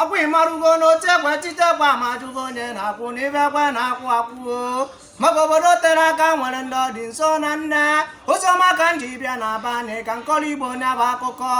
akwụ ịmarụgo n'otu ekwe titekwa ma jụgo onye na-akụ n'ibe ekwe na-akụ akụọ maka obodo tere aka nwere ndị ọ dị nso na nne oziọma ka m ji bịa na abanị ka m kọọrọ igbo onye bụ akụkọ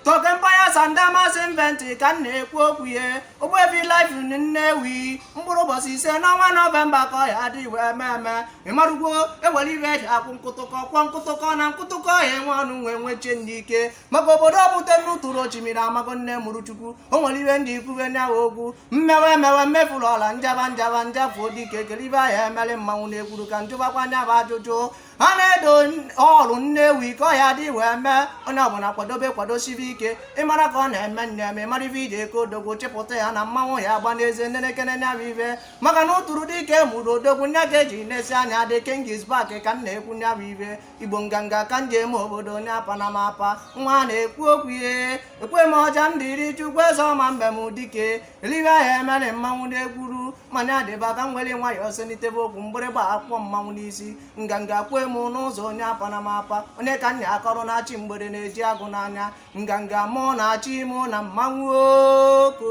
toke mpanya sanda masị event ka m na-ekwu okwu ya ogbebi life nnewi mkpụrụ ụbọchị ise n'ọnwa nọvemba ka ọ ya adị ibe eme eme ịmarụgwo ewere ibe eji akụ nkụtụkọ kụọ nkụtụkọ na nkụtụkọ ya enwe ọnụ nwe nweche n'ike maka obodo ọ bute n'uturu ochimiri amago nne mụrụ chukwu o nwere ihe ndị ikwuwe nya bụ okwu mmewe emewe mmefuru ọla njaba njaba njafuo dike eli ibe ahịa emere mmanwụ na-ekwuru ka njụbakwa nya bụ ajụjụ a na-edo ọrụ nnewi ka ọ ya dị wee mee onye ọbụla kwadobe kwadosibe ike ịmara ka ọ na-eme nne ma ịmara ibe iji eke odogwu chịpụta ya na mmanwụ ya agba n'eze nenekene nya bụ ibe maka na ụtụrụ dike mụrụ odogwu nya ka eji na-asị nya the king is back ka m na-ekwu nya bụ ibe igbo nganga ka m ji eme obodo onye apa na m apa nwa na-ekwu okwu ihe ekwe m ọja m dịrị chukwu eze ọma mbe m dike eli ibe ahịa emere mmanwụ na-egwuru mana adịba ka m were nwayọọ selitebe okwu mgbịrịgba akụọ mmanwụ n'isi nganga kwee m n'ụzọ onye apa na m apa onye ka nna akọrọ na-achị mgbede na-eji agụ n'anya nganga mụ na-achị mụ na mmanwụ oko